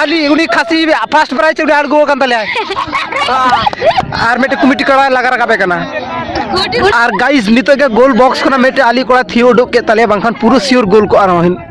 ᱟᱞᱤ ᱩᱱᱤ ᱠᱷᱟᱥᱤ first prize ᱩᱱᱤ ᱟᱬᱜᱚ ᱟᱠᱟᱱ ᱛᱟᱞᱮᱭᱟ ᱟᱨ ᱢᱤᱫᱴᱮᱱ ᱠᱚᱢᱤᱴᱤ ᱠᱚᱲᱟ ᱞᱟᱜᱟ ᱨᱟᱠᱟᱵᱮ ᱠᱟᱱᱟ ᱟᱨ ᱜᱟᱭᱤᱥ ᱱᱤᱛᱚᱜ ᱜᱮ ᱜᱳᱞ ᱵᱚᱠᱥ ᱠᱷᱚᱱᱟᱜ ᱢᱤᱫᱴᱮᱱ ᱟᱞᱤ ᱠᱚᱲᱟ ᱛᱷᱤᱭᱳ ᱩᱰᱩᱠ ᱠᱮᱫ ᱛᱟᱞᱮᱭᱟ ᱵᱟᱝᱠᱷᱟᱱ ᱯᱩᱨᱟᱹ ᱥᱤᱭᱳᱨ ᱜᱳᱞ ᱠᱚᱜᱼᱟ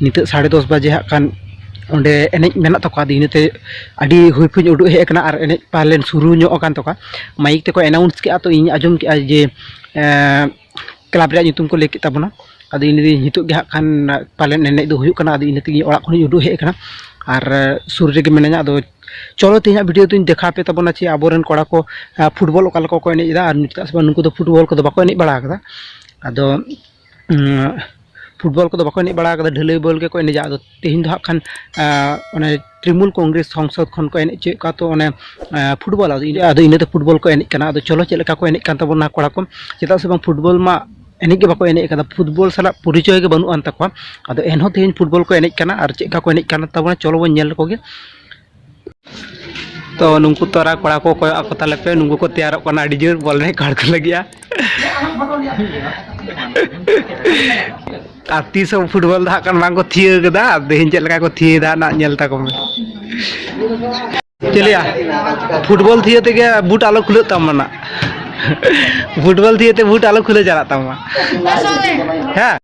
ᱱᱤᱛᱚᱜ ᱥᱟᱲᱮ ᱫᱚᱥ ᱵᱟᱡᱮ ᱦᱟᱸᱜ ᱠᱷᱟᱱ ᱚᱸᱰᱮ ᱮᱱᱮᱡ ᱢᱮᱱᱟᱜ ᱛᱟᱠᱚᱣᱟ ᱟᱫᱚ ᱤᱱᱟᱹᱛᱮ ᱟᱹᱰᱤ ᱦᱩᱭ ᱯᱷᱩᱭ ᱩᱰᱩᱠ ᱦᱮᱡ ᱠᱟᱱᱟ ᱟᱨ ᱮᱱᱮᱡ ᱯᱟᱞᱮᱱ ᱥᱩᱨᱩ ᱧᱚᱜ ᱠᱟᱱ ᱛᱟᱠᱚᱣᱟ ᱢᱟᱭᱤᱠ ᱛᱮᱠᱚ ᱮᱱᱟᱣᱩᱱᱥ ᱠᱮᱜᱼᱟ ᱛᱚ ᱤᱧ ᱟᱸᱡᱚᱢ ᱠᱮᱜᱼᱟ ᱡᱮ ᱠᱞᱟᱵᱽ ᱨᱮᱭᱟᱜ ᱧᱩᱛᱩᱢ ᱠᱚ ᱞᱟᱹᱭ ᱠᱮᱜ ᱛᱟᱵᱚᱱᱟ ᱟᱫᱚ ᱤᱧ ᱞᱟᱹᱭᱫᱟᱹᱧ ᱱᱤᱛᱚᱜ ᱜᱮ ᱦᱟᱸᱜ ᱠᱷᱟᱱ ᱯᱟᱞᱮᱱ ᱮᱱᱮᱡ ᱫᱚ ᱦᱩᱭᱩᱜ ᱠᱟᱱᱟ ᱟᱫᱚ ᱤᱱᱟᱹ ᱛᱮᱜᱮ ᱚᱲᱟᱜ ᱠᱷᱚᱱᱤᱧ ᱩᱰᱩᱠ ᱦᱮᱡ ᱠᱟᱱᱟ ᱟᱨ ᱥᱩᱨ ᱨᱮᱜᱮ ᱢᱤᱱᱟᱹᱧᱟ ᱟᱫᱚ ᱪᱚᱞᱚ ᱛᱮᱦᱮᱧᱟᱜ ᱵᱷᱤᱰᱤᱭᱳ ᱫᱚᱧ ᱫᱮᱠᱷᱟᱣ ᱟᱯᱮ ᱛᱟᱵᱚᱱᱟ ᱡᱮ ᱟᱵᱚ ᱨᱮᱱ ᱠᱚᱲᱟ ᱠᱚ ᱯᱷᱩᱴᱵᱚᱞ ᱚᱠᱟ ᱞᱮᱠᱟ ᱠᱚ ᱮᱱᱮᱡ ᱮᱫᱟ ᱟᱨ ᱪᱮᱫᱟᱜ ᱥᱮ ᱵᱟᱝ ᱱᱩᱠᱩ ᱫᱚ ᱯᱷᱩᱴᱵᱚᱞ ᱠᱚᱫᱚ ᱵᱟᱠᱚ ᱮᱱᱮᱡ ᱵᱟᱲᱟᱣ ᱠᱟᱫᱟ ᱟᱫᱚ ᱯᱷᱩᱴᱵᱚᱞ ᱠᱚᱫᱚ ᱵᱟᱠᱚ ᱮᱱᱮᱡ ᱵᱟᱲᱟ ᱠᱟᱫᱟ ᱰᱷᱟᱹᱞᱟᱹᱭ ᱵᱚᱞ ᱜᱮᱠᱚ ᱮᱱᱮᱡᱟ ᱟᱫᱚ ᱛᱮᱦᱮᱧ ᱫᱚ ᱦᱟᱸᱜ ᱠᱷᱟᱱ ᱚᱱᱮ ᱛᱨᱤᱢᱩᱞ ᱠᱚᱝᱜᱨᱮᱥ ᱥᱚᱝᱥᱚᱫᱽ ᱠᱷᱚᱱ ᱠᱚ ᱮᱱᱮᱡ ᱦᱚᱪᱚᱭᱮᱫ ᱠᱚᱣᱟ ᱛᱚ ᱚᱱᱮ ᱯᱷᱩᱴᱵᱚᱞ ᱟᱫᱚ ᱤᱱᱟᱹᱛᱮ ᱯᱷᱩᱴᱵᱚᱞ ᱠᱚ ᱮᱱᱮᱡ ᱠᱟᱱᱟ ᱟᱫᱚ ᱪᱚᱞᱚ ᱪᱮᱫ ᱞᱮᱠᱟ ᱠᱚ ᱮᱱᱮᱡ ᱠᱟᱱ ᱛᱟᱵᱚᱱᱟ ᱠᱚᱲᱟ ᱠᱚ ᱪᱮᱫᱟᱜ ᱥᱮ ᱵᱟᱝ ᱯᱷᱩᱴᱵᱚᱞ ᱢᱟ ᱮᱱᱮᱡ ᱜᱮ ᱵᱟᱠᱚ ᱮᱱᱮᱡ ᱠᱟᱫᱟ ᱯᱷᱩᱴᱵᱚᱞ ᱥᱟᱞᱟᱜ ᱯᱚᱨᱤᱪᱚᱭ ᱜᱮ ᱵᱟᱹᱱᱩᱜ ᱟᱱ ᱛᱟᱠᱚᱣᱟ ᱟᱫᱚ ᱮᱱᱦᱚᱸ ᱛᱮᱦᱮᱧ ᱯᱷᱩᱴᱵᱚᱞ ᱠᱚ ᱮᱱᱮᱡ ᱠᱟᱱᱟ ᱟᱨ ᱪᱮᱫ ᱞᱮᱠᱟ ᱠᱚ ᱮᱱᱮᱡ ᱠᱟᱱ ᱛᱟᱵᱚᱱᱟ ᱪᱚᱞᱚ ᱵᱚᱱ ᱧᱮᱞ ᱞᱮᱠᱚ ᱜᱮ ᱛᱚ ᱱᱩᱠᱩ ᱛᱚᱨᱟ ᱠᱚᱲᱟ ᱠᱚ ᱠᱚᱭᱚᱜ ᱟᱠᱚ ᱛᱟᱞᱮ ᱯᱮ ᱱᱩᱠᱩ ᱠᱚ ᱛᱮᱭᱟᱨᱚᱜ ᱠᱟᱱᱟ ᱟᱹᱰᱤ ᱡᱳᱨ ᱵᱚᱞ ᱮᱱᱮᱡ ᱠᱟᱲ ᱠᱚ ᱞᱟᱹᱜᱤᱫᱼᱟ ᱟᱨ ᱛᱤᱥ ᱦᱚᱸ ᱯᱷᱩᱴᱵᱚᱞ ᱫᱚ ᱦᱟᱸᱜ ᱠᱷᱟᱱ ᱵᱟᱝ ᱠᱚ ᱛᱷᱤᱭᱟᱹ ᱠᱟᱫᱟ ᱟᱨ ᱛᱮᱦᱮᱧ ᱪᱮᱫ ᱞᱮᱠᱟ ᱠᱚ ᱛᱷᱤᱭᱟᱹᱭᱮᱫᱟ ᱱᱟᱜ ᱧᱮᱞ ᱛᱟᱠᱚ ᱢᱮ ᱪᱮᱫ ᱞᱟᱹᱭᱟ ᱯᱷᱩᱴᱵᱚᱞ ᱛᱷᱤᱭᱟᱹ ᱛᱮᱜᱮ ᱵᱩᱴ ᱟᱞᱚ ᱠᱷᱩᱞᱟᱹᱜ ᱛᱟᱢᱟ ᱱᱟᱜ ᱯᱷᱩᱴᱵᱚᱞ ᱛᱷᱤᱭᱟᱹ ᱛᱮ ᱵᱩᱴ ᱟᱞᱚ ᱠᱷᱩᱞᱟᱹ ᱪᱟᱞᱟᱜ ᱛᱟᱢᱟ ᱦᱮᱸ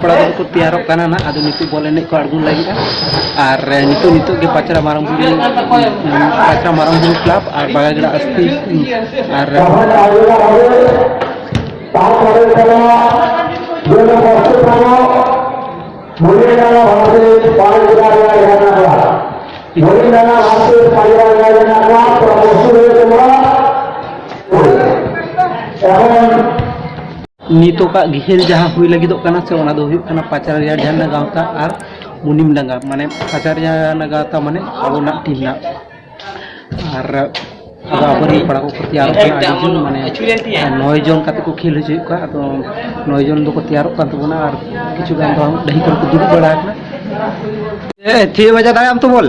ᱠᱚᱲᱟ ᱠᱚᱫᱚ ᱠᱚ ᱛᱮᱭᱟᱨᱚᱜ ᱠᱟᱱᱟ ᱱᱟᱜ ᱟᱫᱚ ᱱᱤᱛᱚᱜ ᱵᱚᱞ ᱮᱱᱮᱡ ᱠᱚ ᱟᱬᱜᱚᱱ ᱞᱟᱹᱜᱤᱫᱼᱟ ᱟᱨ ᱱᱤᱛᱚᱜ ᱱᱤᱛᱚᱜ ᱜᱮ ᱯᱟᱪᱨᱟ ᱢᱟᱨᱟᱝ ᱵᱩᱨᱩ ᱯᱟᱪᱨᱟ ᱢᱟᱨᱟᱝ ᱵᱩᱨᱩ ᱠᱞᱟᱵᱽ ᱟᱨ ᱵᱟᱜᱟᱜᱲᱟ ᱟᱥᱛᱤ ᱟᱨ ᱱᱤᱛᱚᱜᱟᱜ ᱜᱷᱮᱞ ᱡᱟᱦᱟᱸ ᱦᱩᱭ ᱞᱟᱹᱜᱤᱫᱚᱜ ᱠᱟᱱᱟ ᱥᱮ ᱚᱱᱟ ᱫᱚ ᱦᱩᱭᱩᱜ ᱠᱟᱱᱟ ᱯᱟᱪᱟᱨᱤᱭᱟ ᱡᱷᱟᱨᱱᱟ ᱜᱟᱶᱛᱟ ᱟᱨ ᱢᱩᱱᱤᱢ ᱰᱟᱸᱜᱟ ᱢᱟᱱᱮ ᱯᱟᱪᱟᱨᱤᱭᱟ ᱡᱷᱟᱨᱱᱟ ᱜᱟᱶᱛᱟ ᱢᱟᱱᱮ ᱟᱵᱚᱱᱟᱜ ᱴᱤᱢ ᱨᱮᱱᱟᱜ ᱟᱨ ᱟᱫᱚ ᱟᱵᱚᱨᱮᱱ ᱠᱚᱲᱟ ᱠᱚᱠᱚ ᱛᱮᱭᱟᱨᱚᱜ ᱠᱟᱱᱟ ᱟᱹᱰᱤ ᱡᱚᱱ ᱢᱟᱱᱮ ᱱᱚᱭ ᱡᱚᱱ ᱠᱟᱛᱮ ᱠᱚ ᱠᱷᱮᱞ ᱦᱚᱪᱚᱭᱮᱫ ᱠᱚᱣᱟ ᱟᱫᱚ ᱱᱚᱭ ᱡᱚᱱ ᱫᱚᱠᱚ ᱛᱮᱭᱟᱨᱚᱜ ᱠᱟᱱ ᱛᱟᱵᱚᱱᱟ ᱟᱨ ᱠᱤᱪᱷᱩ ᱜᱟᱱ ᱫᱚ ᱰᱟᱹᱦᱤ ᱠᱚᱨᱮ ᱠᱚ ᱫᱩᱲᱩᱵ ᱵᱟᱲᱟ ᱟᱠᱟᱱᱟ ᱛᱷᱤᱭᱟᱹ ᱵᱟᱡᱟ ᱫᱟᱲᱮᱭᱟᱜ ᱟᱢ ᱛᱚ ᱵᱚᱞ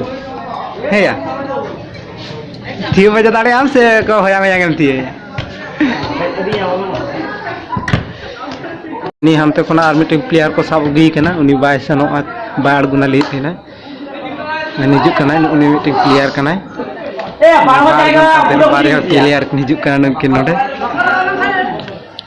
ᱦᱮᱸᱭᱟ ᱛᱷᱤᱭᱟᱹ ᱵᱟᱡᱟ ᱫᱟᱲᱮᱭᱟᱜ ᱟᱢ ᱥᱮ ᱦᱚᱭᱟᱝ ᱦᱚᱭᱟᱝ ᱮᱢ ᱛᱷᱤᱭᱟᱹᱭᱟ ᱩᱱᱤ ᱦᱟᱱᱛᱮ ᱠᱷᱚᱱᱟᱜ ᱟᱨ ᱢᱤᱫᱴᱮᱱ ᱯᱞᱮᱭᱟᱨ ᱠᱚ ᱥᱟᱵ ᱟᱹᱜᱩᱭᱮ ᱠᱟᱱᱟ ᱩᱱᱤ ᱵᱟᱭ ᱥᱮᱱᱚᱜᱼᱟ ᱵᱟᱭ ᱟᱬᱜᱚᱱᱟ ᱞᱟᱹᱭᱮᱫ ᱛᱟᱦᱮᱱᱟ ᱦᱤᱡᱩᱜ ᱠᱟᱱᱟᱭ ᱩᱱᱤ ᱢᱤᱫᱴᱮᱱ ᱯᱞᱮᱭᱟᱨ ᱠᱟᱱᱟᱭ ᱵᱟᱨᱭᱟ ᱯᱞᱮᱭᱟᱨ ᱠᱤᱱ ᱦᱤᱡᱩᱜ ᱠᱟᱱᱟ ᱱᱩᱠᱤᱱ ᱱᱚᱰᱮ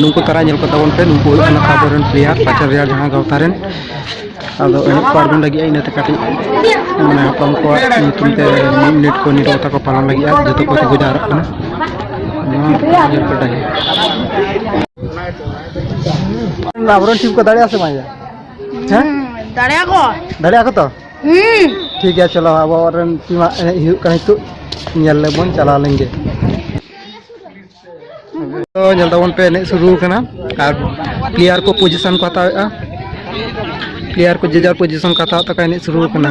ᱱᱩᱠᱩ ᱛᱟᱨᱟ ᱧᱮᱞ ᱠᱚ ᱛᱟᱵᱚᱱ ᱯᱮ ᱱᱩᱠᱩ ᱦᱩᱭᱩᱜ ᱠᱟᱱᱟ ᱟᱵᱚ ᱨᱮᱱ ᱯᱞᱮᱭᱟᱨ ᱯᱟᱪᱟᱨ ᱨᱮᱭᱟᱜ ᱡᱟᱦᱟᱸ ᱜᱟᱶᱛᱟ ᱨᱮᱱ ᱟᱫᱚ ᱮᱱᱮᱡ ᱠᱚ ᱟᱬᱜᱚᱱ ᱞᱟᱹᱜᱤᱫ ᱤᱱᱟᱹᱛᱮ ᱠᱟᱹᱴᱤᱡ ᱢᱟᱱᱮ ᱦᱟᱯᱲᱟᱢ ᱠᱚᱣᱟᱜ ᱧᱩᱛᱩᱢ ᱛᱮ ᱢᱤᱫ ᱢᱤᱱᱤᱴ ᱠᱚ ᱱᱤᱨᱚ ᱠᱟᱛᱷᱟ ᱠᱚ ᱯᱟᱞᱚᱱ ᱞᱟᱹᱜᱤᱫ ᱟᱨ ᱡᱚᱛᱚ ᱠᱚ ᱛᱤᱸᱜᱩ ᱡᱟᱣᱨᱟᱜ ᱠᱟᱱᱟ ᱱᱚᱣᱟ ᱧᱮᱞ ᱯᱮ ᱰᱟᱹᱦᱤ ᱟᱵᱚᱨᱮᱱ ᱴᱤᱢ ᱠᱚ ᱫᱟᱲᱮᱭᱟᱜᱼᱟ ᱥᱮ ᱵᱟᱝ ᱦᱮᱸ ᱫᱟᱲᱮᱭᱟᱜᱼᱟ ᱠᱚ ᱫᱟᱲᱮᱭᱟᱜᱼᱟ ᱠᱚ ᱛᱚ ᱴᱷᱤᱠ ᱜᱮᱭᱟ ᱪᱚᱞᱚ ᱟᱵᱚ ᱨᱮᱱ ᱴᱤᱢᱟ ᱮᱱᱮᱡ ᱦᱩᱭᱩᱜ ᱠᱟᱱᱟ ᱱᱤᱛᱚᱜ ᱧᱮᱞ ᱞᱮᱵᱚᱱ ᱪᱟᱞᱟᱣ ᱞᱮᱱ ᱜᱮ ᱛᱚ ᱧᱮᱞ ᱛᱟᱵᱚᱱ ᱯᱮ ᱮᱱᱮᱡ ᱥᱩᱨᱩ ᱠᱟᱱᱟ ᱟᱨ ᱯᱞᱮᱭᱟᱨ ᱠᱚ ᱯᱚᱡᱤᱥᱚᱱ ᱠᱚ ᱦᱟᱛᱟᱣᱮᱫᱼᱟ ᱯᱞᱮᱭᱟᱨ ᱠᱚ ᱡᱮᱡᱟᱨ ᱯᱚᱡᱤᱥᱚᱱ ᱠᱚ ᱦᱟᱛᱟᱣ ᱛᱟᱠᱚ ᱮᱱᱮᱡ ᱥᱩᱨᱩ ᱠᱟᱱᱟ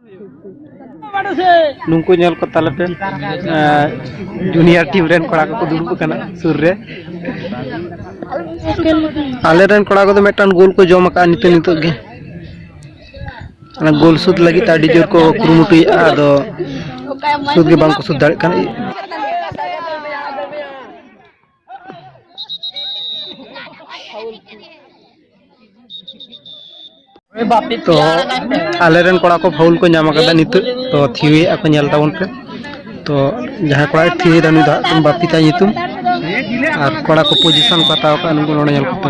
ᱱᱩᱠᱩ ᱧᱮᱞ ᱠᱚ ᱛᱟᱞᱮ ᱯᱮ ᱡᱩᱱᱤᱭᱟᱨ ᱴᱤᱢ ᱨᱮᱱ ᱠᱚᱲᱟ ᱠᱚᱠᱚ ᱫᱩᱲᱩᱵ ᱟᱠᱟᱱᱟ ᱥᱩᱨ ᱨᱮ ᱟᱞᱮ ᱨᱮᱱ ᱠᱚᱲᱟ ᱠᱚᱫᱚ ᱢᱤᱫᱴᱟᱝ ᱜᱳᱞ ᱠᱚ ᱡᱚᱢ ᱟᱠᱟᱫᱼᱟ ᱱᱤᱛᱚᱜ ᱱᱤᱛᱚᱜ ᱜᱮ ᱚᱱᱟ ᱜᱳᱞ ᱥᱩᱫ ᱞᱟᱹᱜᱤᱫ ᱟᱹᱰᱤ ᱡᱳᱨ ᱠᱚ ᱠᱩᱨᱩᱢᱩᱴᱩᱭᱮᱫᱼᱟ ᱟᱫᱚ ᱥᱩᱫ ᱜᱮ ᱵᱟᱝᱠᱚ ᱥᱩᱫ ᱫᱟᱲᱮᱭᱟᱜ ᱠᱟᱱᱟ ᱛᱚ ᱟᱞᱮ ᱨᱮᱱ ᱠᱚᱲᱟ ᱠᱚ ᱯᱷᱟᱣᱩᱞ ᱠᱚ ᱧᱟᱢ ᱟᱠᱟᱫᱟ ᱱᱤᱛᱚᱜ ᱛᱚ ᱛᱷᱤᱣᱮᱫ ᱟᱠᱚ ᱧᱮᱞ ᱛᱟᱵᱚᱱ ᱯᱮ ᱛᱚ ᱡᱟᱦᱟᱸᱭ ᱠᱚᱲᱟᱭ ᱛᱷᱤᱣᱮᱫᱟ ᱩᱱᱤ ᱫᱚ ᱦᱟᱸᱜ ᱠᱷᱟᱱ ᱵᱟᱯᱤ ᱛᱟᱭ ᱧᱩᱛᱩᱢ ᱟᱨ ᱠᱚᱲᱟ ᱠᱚ ᱯᱚᱡᱤᱥᱚᱱ ᱠᱚ ᱦᱟᱛᱟᱣ ᱟᱠᱟᱫ ᱱᱩᱠᱩ ᱱᱚᱰᱮ ᱧᱮᱞ ᱠᱚᱯᱮ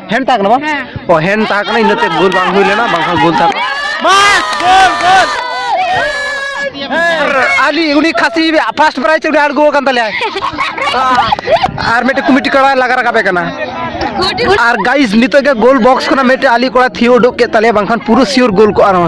ᱦᱮᱱ ᱛᱟᱦᱮᱸ ᱠᱟᱱᱟ ᱵᱟᱝ ᱚ ᱦᱮᱱ ᱛᱟᱦᱮᱸ ᱠᱟᱱᱟ ᱤᱱᱟᱹᱛᱮ ᱜᱳᱞ ᱵᱟᱝ ᱦᱩᱭ ᱞᱮᱱᱟ ᱵᱟᱝᱠᱷᱟᱱ ᱜᱳᱞ ᱛᱟᱦᱮᱸ ᱠᱟᱱᱟ ᱵᱟᱥ ᱜᱳᱞ ᱜᱳᱞ ᱟᱞᱤ ᱩᱱᱤ ᱠᱷᱟᱥᱤ ᱯᱷᱟᱥᱴ ᱯᱨᱟᱭᱤᱡ ᱩᱱᱤ ᱟᱬᱜᱚ ᱟᱠᱟᱱ ᱛᱟᱞᱮᱭᱟ ᱟᱨ ᱢᱤᱫᱴᱮᱱ ᱠᱚᱢᱤᱴᱤ ᱠᱚᱲᱟ ᱞᱟᱜᱟ ᱨᱟᱠᱟᱵ ᱮ ᱠᱟᱱᱟ ᱟᱨ ᱜᱟᱭᱤᱥ ᱱᱤᱛᱚᱜ ᱜᱮ ᱜᱳᱞ ᱵᱚᱠᱥ ᱠᱷᱚᱱᱟᱜ ᱢᱤᱫᱴᱮᱱ ᱟᱞᱤ ᱠᱚᱲᱟ ᱛᱷᱤᱭᱟᱹ ᱩᱰᱩᱠ ᱠᱮᱫ ᱛᱟᱞᱮᱭᱟ ᱵᱟᱝᱠᱷᱟᱱ ᱯᱩᱨᱟᱹ ᱥᱤᱭᱳᱨ ᱜᱳᱞ ᱠᱚᱜᱼᱟ ᱱᱚᱣᱟ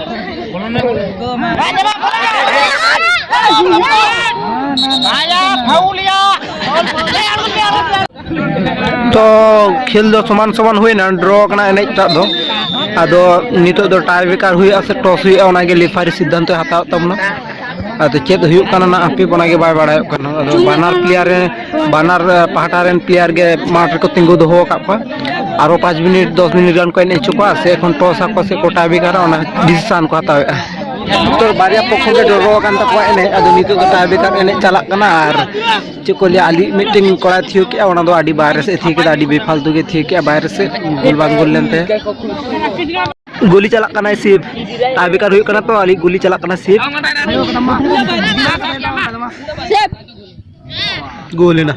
ᱛᱚ ᱠᱷᱮᱞ ᱫᱚ ᱥᱚᱢᱟᱱ ᱥᱚᱢᱟᱱ ᱦᱩᱭᱱᱟ ᱰᱨᱚ ᱠᱟᱱᱟ ᱮᱱᱮᱡ ᱴᱟᱜ ᱫᱚ ᱟᱫᱚ ᱱᱤᱛᱚᱜ ᱫᱚ ᱴᱟᱭ ᱵᱮᱠᱟᱨ ᱦᱩᱭᱩᱜᱼᱟ ᱥᱮ ᱴᱚᱥ ᱦᱩᱭᱩᱜᱼᱟ ᱚᱱᱟᱜᱮ ᱞᱮᱯᱷᱟᱨᱤ ᱥᱤᱫᱽᱫᱷᱟᱱᱛᱚᱭ ᱦᱟᱛᱟᱣ ᱛᱟᱵᱚᱱᱟ ᱟᱫᱚ ᱪᱮᱫ ᱦᱩᱭᱩᱜ ᱠᱟᱱᱟ ᱦᱟᱯᱮ ᱚᱱᱟᱜᱮ ᱵᱟᱭ ᱵᱟᱲᱟᱭᱚᱜ ᱠᱟᱱᱟ ᱟᱫᱚ ᱵᱟᱱᱟᱨ ᱯᱞᱮᱭᱟᱨ ᱨᱮ ᱵᱟᱱᱟᱨ ᱯᱟᱦᱴᱟ ᱨᱮᱱ ᱯᱞᱮᱭᱟᱨ ᱜᱮ ᱢᱟᱴᱷ ᱨᱮᱠᱚ ᱛᱤᱸᱜᱩ ᱫᱚᱦᱚ ᱟᱠᱟᱫ ᱠᱚᱣᱟ ᱟᱨᱚ ᱯᱟᱸᱪ ᱢᱤᱱᱤᱴ ᱫᱚᱥ ᱢᱤᱱᱤᱴ ᱜᱟᱱ ᱠᱚ ᱮᱱᱮᱡ ᱦᱚᱪᱚ ᱠᱚᱣᱟ ᱥᱮ ᱮᱠᱷᱚᱱ ᱴᱚᱥ ᱟᱠᱚ ᱥᱮ ᱠᱚ ᱴᱟᱭ ᱵᱮᱠᱟᱨᱟ ᱚᱱᱟ ᱰᱤᱥᱤᱥᱟᱱ ᱠᱚ ᱦᱟᱛᱟᱣᱮᱫᱼᱟ ᱱᱤᱛᱚᱜ ᱵᱟᱨᱭᱟ ᱯᱚᱠᱷᱚ ᱜᱮ ᱰᱨᱚ ᱟᱠᱟᱱ ᱛᱟᱠᱚᱣᱟ ᱮᱱᱮᱡ ᱟᱫᱚ ᱱᱤᱛᱚᱜ ᱫᱚ ᱴᱟᱭ ᱵᱮᱠᱟᱨ ᱮᱱᱮᱡ ᱪᱟᱞᱟᱜ ᱠᱟᱱᱟ ᱟᱨ ᱪᱮᱫ ᱠᱚ ᱞᱟᱹᱭᱟ ᱟᱹᱞᱤᱧ ᱢᱤᱫᱴᱮᱱ ᱠᱚᱲᱟᱭ ᱛᱷᱤᱭᱟᱹ ᱠᱮᱜᱼᱟ ᱚᱱᱟ ᱫᱚ ᱟᱹᱰᱤ ᱵᱟᱦᱨᱮ ᱥᱮᱫ ᱛᱷᱤᱭᱟᱹ ᱠᱮᱫᱟ ᱟᱹᱰᱤ ᱵᱮᱯᱷᱟᱞᱛᱩ ᱜᱮ ᱛᱷᱤᱭᱟᱹ ᱠᱮᱜᱼᱟ ᱵᱟᱦᱨᱮ ᱥᱮᱫ ᱜᱳᱞ ᱵᱟᱝ ᱜᱳᱞ ᱞᱮᱱ ᱛᱟᱭᱟ ᱜᱩᱞᱤ ᱪᱟᱞᱟᱜ ᱠᱟᱱᱟ ᱥᱤᱯ ᱴᱟᱭ ᱵᱮᱠᱟᱨ ᱦᱩᱭᱩᱜ ᱠᱟᱱᱟ ᱛᱚ ᱟᱹᱞᱤᱧ ᱜᱩᱞᱤ ᱪᱟᱞᱟᱜ ᱠᱟᱱᱟ ᱥᱤᱯ ᱜᱳᱞ ᱮᱱᱟ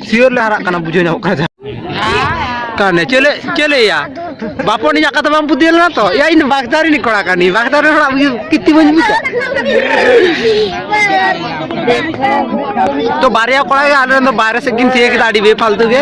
ᱥᱤᱭᱳᱨ ᱞᱮ ᱦᱟᱨᱟᱜ ᱠᱟᱱᱟ ᱵᱩᱡᱷᱟᱹᱣ ᱧᱟᱢᱚᱜ ᱠᱟᱱᱟ ᱠᱟᱱᱮ ᱪᱮᱞᱮ ᱪᱮᱞᱮᱭᱟ ᱵᱟᱯᱚᱱ ᱤᱧᱟᱹᱜ ᱠᱟᱛᱷᱟ ᱵᱟᱢ ᱯᱩᱛᱤᱭ ᱞᱮᱱᱟ ᱛᱚ ᱭᱟ ᱤᱧ ᱵᱟᱜᱽᱫᱟ ᱨᱤᱱᱤᱡ ᱠᱚᱲᱟ ᱠᱟᱹᱱᱟᱹᱧ ᱵᱟᱜᱽᱫᱟ ᱨᱮᱱ ᱦᱚᱲᱟᱜ ᱠᱤᱛᱤ ᱵᱟᱹᱧ ᱵᱩᱡᱟ ᱛᱚ ᱵᱟᱨᱭᱟ ᱠᱚᱲᱟ ᱜᱮ ᱟᱞᱮ ᱨᱮᱱ ᱫᱚ ᱵᱟᱨᱦᱮ ᱥᱮᱫ ᱠᱤᱱ ᱛᱤᱭᱟᱹ ᱠᱮᱫᱟ ᱟᱹᱰᱤ ᱵᱮᱯᱷᱟᱞᱛᱩ ᱜᱮ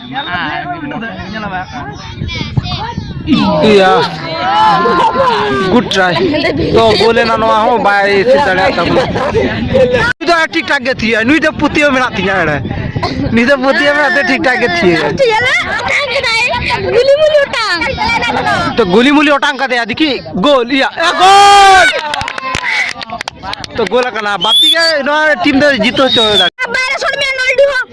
ᱤᱭᱟ ᱜᱩᱰ ᱴᱨᱟᱭ ᱛᱚ ᱜᱳᱞ ᱮᱱᱟ ᱱᱚᱣᱟ ᱦᱚᱸ ᱵᱟᱭ ᱥᱮ ᱫᱟᱲᱮᱭᱟᱜ ᱛᱟᱵᱚᱱᱟ ᱱᱩᱭ ᱫᱚ ᱴᱷᱤᱠ ᱴᱷᱟᱠ ᱜᱮ ᱛᱷᱤᱭᱟ ᱱᱩᱭ ᱫᱚ ᱯᱩᱛᱤᱭᱟᱹ ᱢᱮᱱᱟᱜ ᱛᱤᱧᱟ ᱮᱲᱮ ᱱᱩᱭ ᱫᱚ ᱯᱩᱛᱤᱭᱟᱹ ᱢᱮᱱᱟᱜ ᱛᱮ ᱴᱷᱤᱠ ᱴᱷᱟᱠ ᱜᱮ ᱛᱷᱤᱭᱟ ᱜᱩᱞᱤ ᱢᱩᱞᱤ ᱚᱴᱟᱝ ᱛᱚ ᱜᱩᱞᱤ ᱢᱩᱞᱤ ᱚᱴᱟᱝ ᱠᱟᱫᱮᱭᱟ ᱫᱤᱠᱤ ᱜᱳᱞ ᱤᱭᱟ ᱜᱳᱞ ᱛᱚ ᱜᱳᱞ ᱠᱟᱱᱟ ᱵᱟᱯᱤ ᱜᱮ ᱱᱚᱣᱟ ᱴᱤᱢ ᱫᱚ ᱡᱤᱛᱟᱹ ᱦᱚᱪᱚ